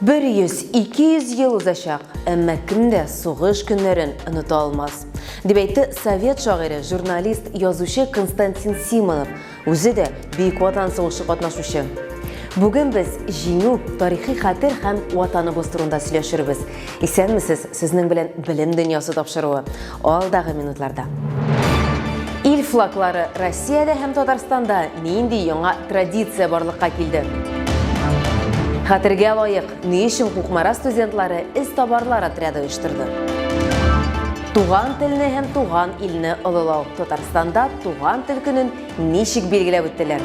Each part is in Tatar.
Бер йөз, ике йөз ел узачак, әмма кем дә сугыш көннәрен оныта алмас, дип әйтте совет шагыйре, журналист, язучы Константин Симонов, үзе дә Бөек Ватан сугышы катнашучы. Бүген без Җиңү, тарихи хәтер һәм Ватаныбыз турында сөйләшербез. Исәнмесез, сезнең белән Белем дөньясы тапшыруы. Алдагы минутларда. Ил флаглары Россиядә һәм Татарстанда нинди яңа традиция барлыкка килде? Хәтергә лаек, ни өчен Кукмара студентлары эз табарлар отряды оештырды? Туган телне һәм туган илне олылау Татарстанда туган тел көнен ничек билгеләп үттеләр?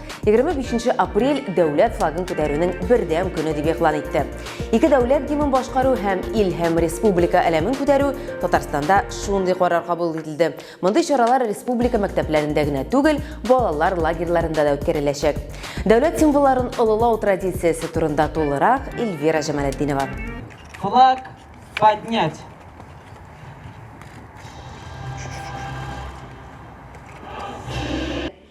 25 апрель дәүләт флагын күтәрүнең бердәм көне дип игълан итте. Ике дәүләт гимнын башкару һәм ил һәм республика әләмен күтәрү Татарстанда шундый карар кабул ителде. Мондый чаралар республика мәктәпләрендә генә түгел, балалар лагерьларында да үткәреләчәк. Дәүләт символларын олылау традициясе турында тулырак Эльвира Җамалетдинова. Флаг поднять.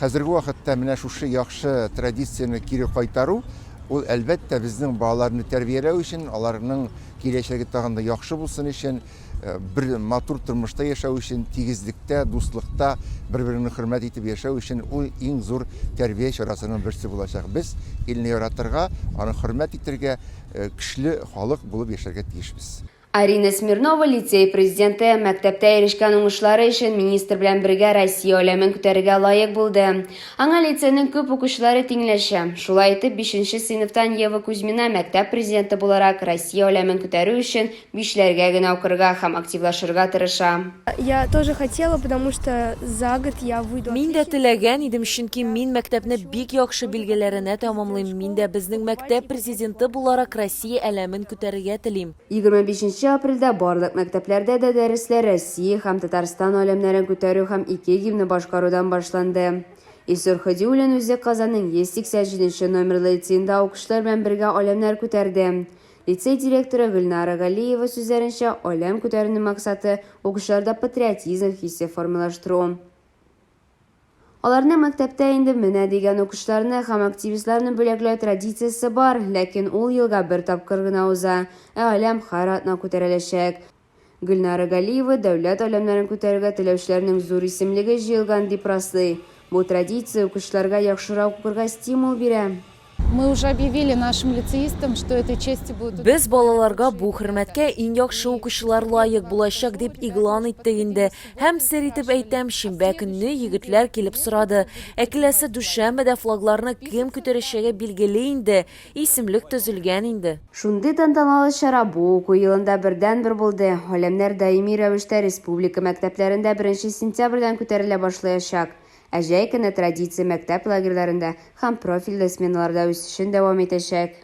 Хәзерге вакытта менә шушы яхшы традицияне кире кайтару, ул, әлбәттә, безнең балаларны тәрбияләү өчен, аларның киләчәге тагын да яхшы булсын өчен, бер матур тормышта яшәү өчен, тигезлектә, дуслыкта, бер-береңне хөрмәт итеп яшәү өчен ул иң зур тәрбия чарасының берсе булачак. Без илне яратырга, аны хөрмәт итәргә, көчле халык булып яшәргә тиешбез. Арина Смирнова лицей президенты, мәктәптә ирешкән уңышлары өчен министр белән бергә Россия аләмен күтәрергә лаек булды. Аңа лицейның күп укучылары тиңләшә. Шулай итеп, бишенче сыйныфтан Ева Кузьмина мәктәп президенты буларак Россия аләмен күтәрү өчен бишләргә генә укырга һәм активлашырга тырыша. Я тоже хотела, потому что за год я выйду отличницей. Мин дә теләгән идем, чөнки мин мәктәпне бик яхшы билгеләренә тәмамлыйм, мин дә безнең мәктәп президенты буларак Россия аләмен күтәрергә телим. Егерме бишенче апрельдә барлык мәктәпләрдә дә дәресләр Россия һәм Татарстан галәмнәрен күтәрү һәм ике гимнны башкарудан башланды. Илсур Һадиуллин үзе Казанның 180 җиденче номерлы лицеенда укучылар белән бергә аләмнәр күтәрде. Лицей директоры Гөлнара Галиева сүзләренчә, аләм күтәрүнең максаты, укучыларда патриотизм хисе формалаштыру. Аларны мәктәптә инде менә дигән укучыларны һәм активистларны бүләкләү традициясе бар, ләкин ул елга бер тапкыр гына уза, ә Аләм һәр атна күтәреләчәк. Гөлнара Галиева дәүләт Аләмнәрен күтәрергә теләүчеләрнең зур исемлеге җыелган дип раслый. Бу традиция укучыларга яхшырак укырга стимул бирә. Мы уже объявили нашим лицеистам, что этой чести будут. Без балаларга бу хөрмәткә иң яхшы укучылар лаек булачак дип игълан иттек инде. Һәм сер итеп әйтәм, шимбә көнне егетләр килеп сорады. Ә киләсе дүшәмбедә флагларны кем күтәрәчәге билгеле инде, исемлек төзелгән инде. Шундый тантаналы чара бу уку елында бердәнбер булды. Галәмнәр даими рәвештә республика мәктәпләрендә беренче сентябрьдән күтәрелә башлаячак. Ә җәй көне традиция мәктәп лагерьләрендә һәм профильле сменаларда үсешен дәвам итәчәк.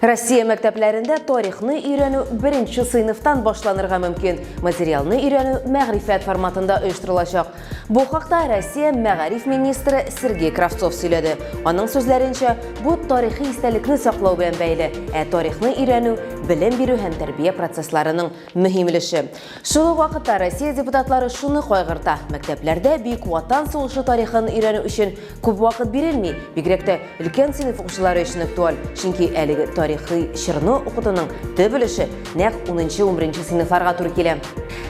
Россия мәктәпләрендә тарихны өйрәнү беренче сыйныфтан башланырга мөмкин, материалны өйрәнү мәгърифәт форматында оештырылачак. Бу хакта Россия мәгариф министры Сергей Кравцов сөйләде. Аның сүзләренчә, бу тарихи истәлекне саклау белән бәйле, ә тарихны өйрәнү, белем бирү һәм тәрбия процессларының Мөһим өлеше. Шул ук вакытта Россия депутатлары шуны кайгырта, мәктәпләрдә Бөек Ватан сугышы тарихын өйрәнү өчен күп вакыт бирелми, бигрәк тә өлкән сыйныф укучылары өчен актуаль, чөнки әлеге тарихи чорны укытуның төп өлеше нәкъ унынчы-унберенче сыйныфларга туры килә.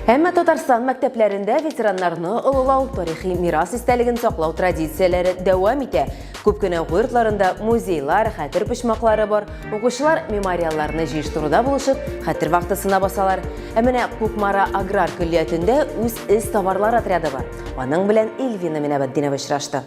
Әмма Татарстан мәктәпләрендә ветераннарны олылау, тарихи мирас истәлеген саклау традицияләре дәвам итә. Күп кенә уку йортларында музейлар, хәтер почмаклары бар. Укучылар мемориалларны җыештыруда булышып, хәтер вахтасына басалар. Ә менә Кукмара аграр көллиятендә үз эз товарлар отряды бар. Аның белән Ильвина Минабатдинова очрашты.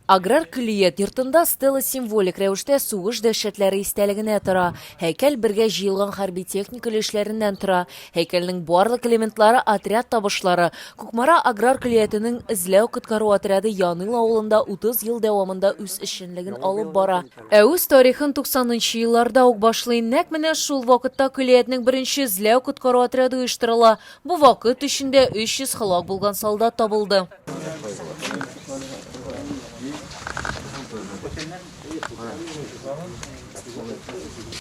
Аграр көллият йортында стела символик рәвештә сугыш дәһшәтләре истәлегенә тора. Һәйкәл бергә җыелган хәрби техника өлешләреннән тора. Һәйкәлнең барлык элементлары отряд табышлары, Кукмара аграр көллиятенең эзләү-коткару отряды Яныйл авылында 30 ел дәвамында үз эшчәнлеген алып бара. Ә үз тарихын 90 нчы елларда ук башлый. Нәкъ менә шул вакытта көллиятнең беренче эзләү-коткару отряды оештырыла. Бу вакыт эчендә 300 һәлак булган солдат табылды.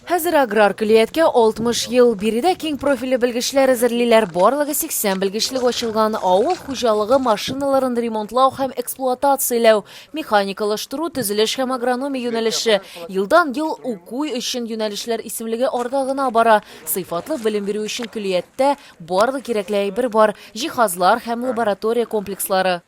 Хәзер аграр көллияткә 60 ел. Биредә киң профильле белгечләр әзерлиләр. Барлыгы 80 белгечлек ачылган. Авыл хуҗалыгы машиналарын ремонтлау һәм эксплуатацияләү, механикалаштыру, төзелеш һәм агрономия юнәлеше. Елдан-ел уку өчен юнәлешләр исемлеге арта гына бара. Сыйфатлы белем бирү өчен көллияттә Барлык кирәкле әйбер бар, җиһазлар һәм лаборатория комплекслары.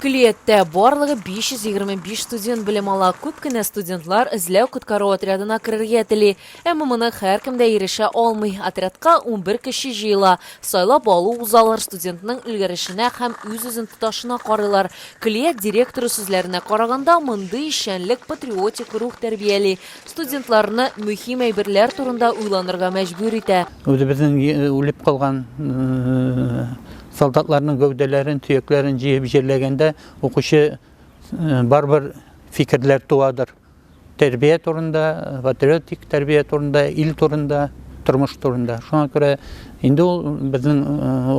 Көллияттә барлыгы 525 студент белем ала. Күп кенә студентлар эзләү-коткару отрядына керергә тели. Әмма моны һәркем дә ирешә алмый. Отрядка унбер кеше җыела. Сайлап алу узалар, студентның өлгерешенә һәм үз-үзен тоташына карыйлар. Көллият директоры сүзләренә караганда, мондый эшчәнлек патриотик рух тәрбияли, студентларны мөһим әйберләр турында уйланырга мәҗбүр итә. Үзебезнең үлеп калган солдатларның гәүдәләрен, төякләрен җыеп җирләгәндә, укучы барыбер фикерләр туадыр. Тәрбия турында, патриотик тәрбия турында, ил турында, тормыш турында. Шуңа күрә инде ул безнең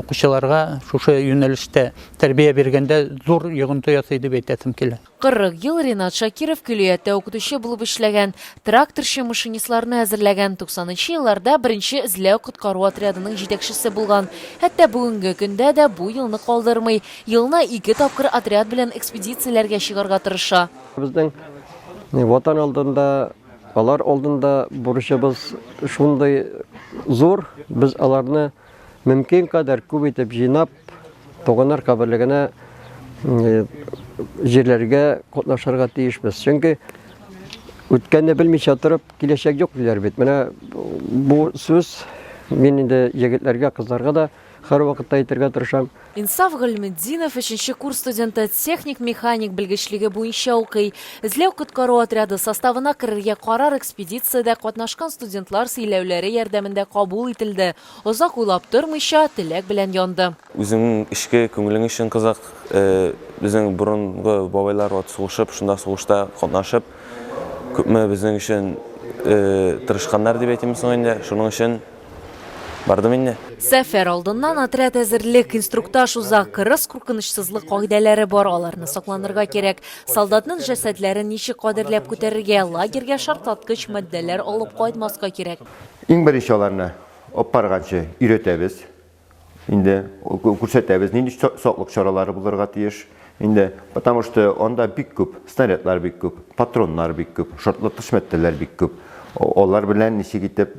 укучыларга шушы юнәлештә тәрбия биргәндә зур йогынты ясый дип әйтәсем килә. 40 ел Ренат Шакиров көллияттә укытучы булып эшләгән, тракторчы-машинистларны әзерләгән, 90 нчы елларда беренче эзләү-коткару отрядының җитәкчесе булган. Хәтта бүгенге көндә дә бу елны калдырмый, елына ике тапкыр отряд белән экспедицияләргә чыгарга тырыша. Безнең Ватан алдында, алар алдында бурычыбыз шундый зур, без аларны мөмкин кадәр күп итеп җыйнап, Туганнар каберлегенә җирләргә катнашырга тиешбез. Чөнки үткәнне белмичә торып, киләчәк юк диләр бит. Менә бу сүз мин инде егетләргә, кызларга да һәрвакытта әйтергә тырышам. Инсаф Гыйльметдинов өченче курс студенты, техник-механик белгечлеге буенча укый. Эзләү-коткару отряды составына керергә карар экспедициядә катнашкан студентлар сөйләүләре ярдәмендә кабул ителде. Озак уйлап тормыйча, теләк белән янды. Үзеңнең эчке күңелең өчен кызык, безнең борынгы бабайлар вот сугышып, шунда сугышта катнашып, күпме безнең өчен тырышканнар дип әйтимме соң инде, шуның өчен бардым инде. Сәфәр алдыннан отряд әзерлек, инструктаж уза, кырыс куркынычсызлык кагыйдәләре бар, аларны сакланырга кирәк. Солдатның җәсәдләрен ничек кадерләп күтәрергә, лагерьгә шартлаткыч матдәләр алып кайтмаска кирәк. Иң беренче аларны апарганчы өйрәтәбез. Инде күрсәтәбез, нинди саклык чаралары булырга тиеш. Инде, потому что анда бик күп, снарядлар бик күп, патроннар бик күп, шартлаткыч матдәләр бик күп. Алар белән ничек итеп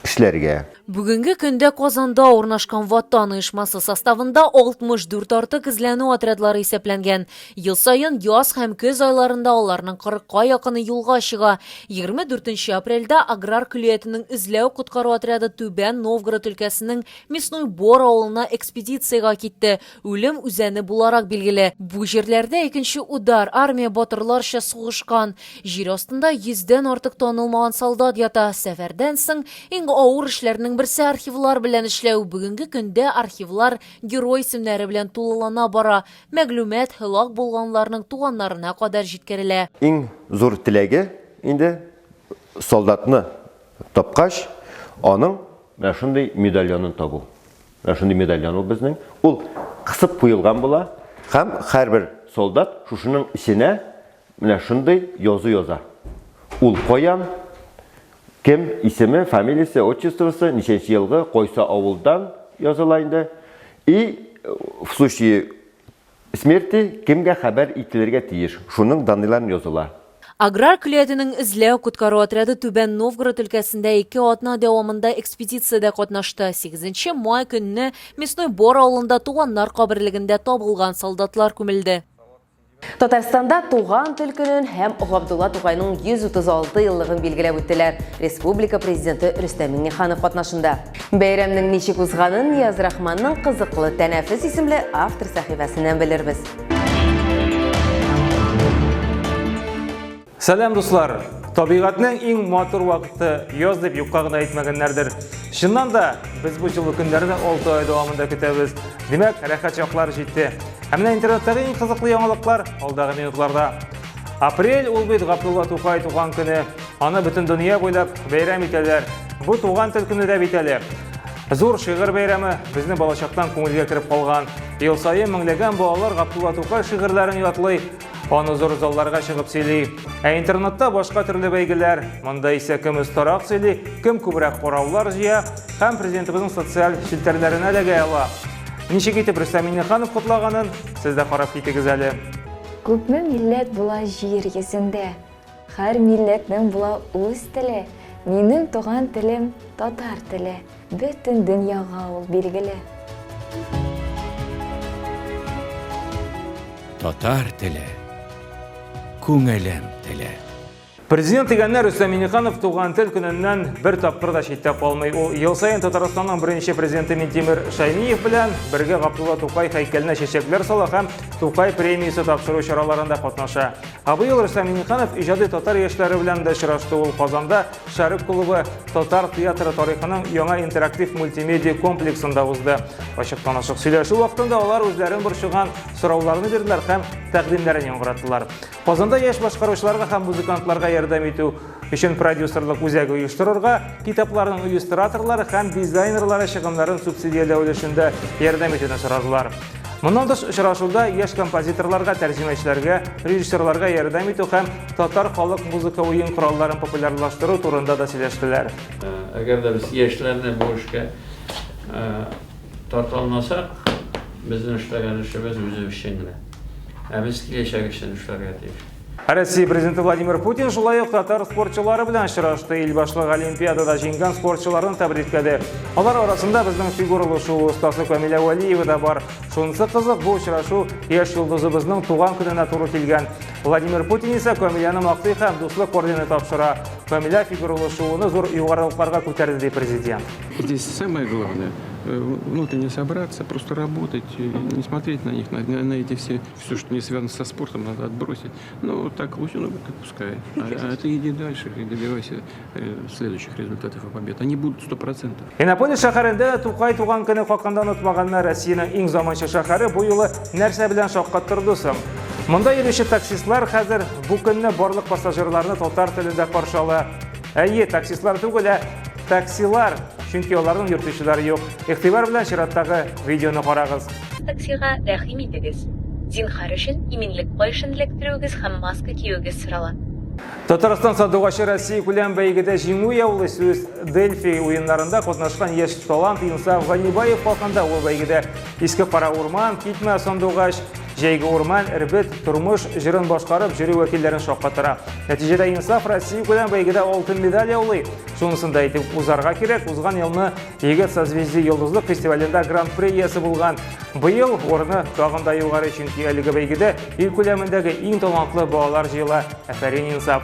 эшләргә. Бүгенге көндә Казанда урнашкан Ватан оешмасы составында 64 артык эзләнү отрядлары исәпләнгән. Ел саен яз һәм көз айларында аларның 40ка якыны юлга чыга. 24 апрельдә аграр көллиятенең эзләү-коткару отряды Түбән Новгород өлкәсенең Мясной Бор авылына экспедициягә китте, Үлем үзәне буларак билгеле. Бу җирләрдә икенче удар армия батырларча сугышкан. Җир астында йөздән артык танылмаган солдат ята. Сәфәрдән соң иң авыр эшләрнең берсе архивлар белән эшләү. Бүгенге көндә архивлар герой исемнәре белән тулылана бара. Мәгълүмат һәлак булганларның туганнарына кадәр җиткерелә. Иң зур теләге инде, солдатны тапкач, аның менә шундый медальонын табу. Менә шундый медальон ул безнең. Ул кысып куелган була һәм һәрбер солдат шушының эченә менә шундый язу яза. Ул каян, кем, исеме, фамилиясе, отчествосы, ничәнче елгы, кайсы авылдан языла инде. И в случае Смерти кемгә хәбәр ителергә тиеш, шуның даныйларын языла. Аграр көлиятенең эзләү-коткару отряды Түбән Новгород өлкәсендә ике атна дәвамында экспедициядә катнашты. Сигезенче май көнне Мясной Бор авылында туганнар каберлегендә табылган солдатлар күмелде. Татарстанда туган тел көнен һәм Габдулла Тукайның 136 еллыгын билгеләп үттеләр, республика Президенты Рөстәм Миңнеханов катнашында. Бәйрәмнең ничек узганын Нияз-Рахманның кызыклы Тәнәфес исемле автор сәхифәсеннән белербез. Сәлам, дуслар! Табигатьнең иң матур вакыты яз дип юкка гына әйтмәгәннәрдер. Чыннан да, без бу җылы көннәрне 6 ай дәвамында көтәбез. Димәк, рәхәт чаклар җитте. Ә менә интернеттагы иң кызыклы яңалыклар алдагы минутларда. Апрель ул бит Габдулла Тукай туган көне. Аны бөтен дөнья буйлап бәйрәм итәләр. Бу туган тел көне дә бит әле. Зур шигырь бәйрәме безнең балачактан күңелгә кереп калган. Ел саен меңләгән балалар Габдулла Тукай шигырьләрен ятлый, аны зур залларга чыгып сөйли. Ә интернетта башка төрле бәйгеләр. Монда исә кем остарак сөйли, кем күбрәк караулар җыя һәм президентыбызның социаль челтәрләренә эләгә ала. Ничек итеп Рөстәм Миңнеханов котлаганын сез дә карап китегез әле. Күпме милләт була җир йөзендә? Хәр милләтнең була үз теле, минем туган телем татар теле, бөтен дөньяга ул билгеле. Татар теле, күңелем теле. Президент дигәннәр Рөстәм Миниханов туган тел көненнән бер тапкыр да читтә калмый. Ул ел саен Татарстанның беренче президенты Минтимер Шәймиев белән бергә Габдулла Тукай һәйкәленә чәчәкләр сала һәм Тукай премиясе тапшыру чараларында катнаша. Ә быел Рөстәм Миңнеханов иҗади татар яшьләре белән дә очрашты. Ул Казанда Шәрык клубы татар театры тарихының яңа интерактив мультимедиа комплексында узды. Ачыктан-ачык сөйләшү вакытында алар үзләрен борчыган сорауларны бирделәр һәм тәкъдимнәрен яңгыраттылар. Казанда яшь башкаручыларга һәм музыкантларга ярдәм итү өчен продюсерлык үзәге оештырырга, китапларның иллюстраторлары һәм дизайнерлары чыгымнарын субсидияләү өлешендә ярдәм итүне сорадылар. Моннан тыш очрашуда яшь композиторларга, тәрҗемәчеләргә, режиссерларга ярдәм итү һәм татар халык музыка уен коралларын популярлаштыру турында да сөйләштеләр. Әгәр дә без яшьләрне бу эшкә тарта алмасак, безнең эшләгән эшебез үзе өчен генә. Ә без киләчәк өчен эшләргә тиеш. Россия президенты Владимир Путин шулай ук татар спортчылары белән очрашты. Ил башлыгы Олимпиадада җиңгән спортчыларны тәбрикләде. Алар арасында безнең фигуралы шуу остасы Камилә Вәлиева да бар. Шунысы кызык, бу очрашу яшь йолдызыбызның туган көненә туры килгән. Владимир Путин исә Камиляны мактый һәм дуслык ордены тапшыра. Камиля фигуралы шууны зур югарылыкларга күтәрде, ди президент. Здесь самое главное э, внутренне собраться, просто работать, э, не смотреть на них, на, на эти все Все, что не связано со спортом, надо отбросить. Ну, так пусть оно будет, пускай. А, а ты иди дальше и добивайся э, следующих результатов и побед. Они будут сто процентов. Иннополис шәһәрендә дә Тукай туган көне хакында онытмаганнар. Россиянең иң заманча шәһәре бу юлы нәрсә белән шаккаттырды соң? Монда йөрүче таксистлар хәзер бу көнне барлык пассажирларны татар телендә каршы ала. Әйе, таксистлар түгел, ә таксилар, чөнки аларның йөртүчеләре юк. Игътибар белән чираттагы видеоны карагыз. Таксига рәхим итегез. Зинһар өчен иминлек каешын эләктерүегез һәм маска киюегез сорала. Татарстан сандугачы Россия күләм бәйгедә җиңү яулый сүз Дельфи уеннарында катнашкан яшь талант Инсаф Ганибаев хакында ул бәйгедә Иске Кара Урман, Китмә сандугач, Җәйге урман, эрбет, тормыш җырын башкарып жюри вәкилләрен шаккатыра. Нәтиҗәдә Инсаф Россия күләм бәйгедә алтын медаль яулый. Шунысын да әйтеп узарга кирәк, узган елны Егет созвездий йолдызлык фестивалендә гран-при иясе булган. Быел урыны тагын да югары, чөнки әлеге бәйгедә ил күләмендәге иң талантлы балалар җыела. Әфәрин Инсаф!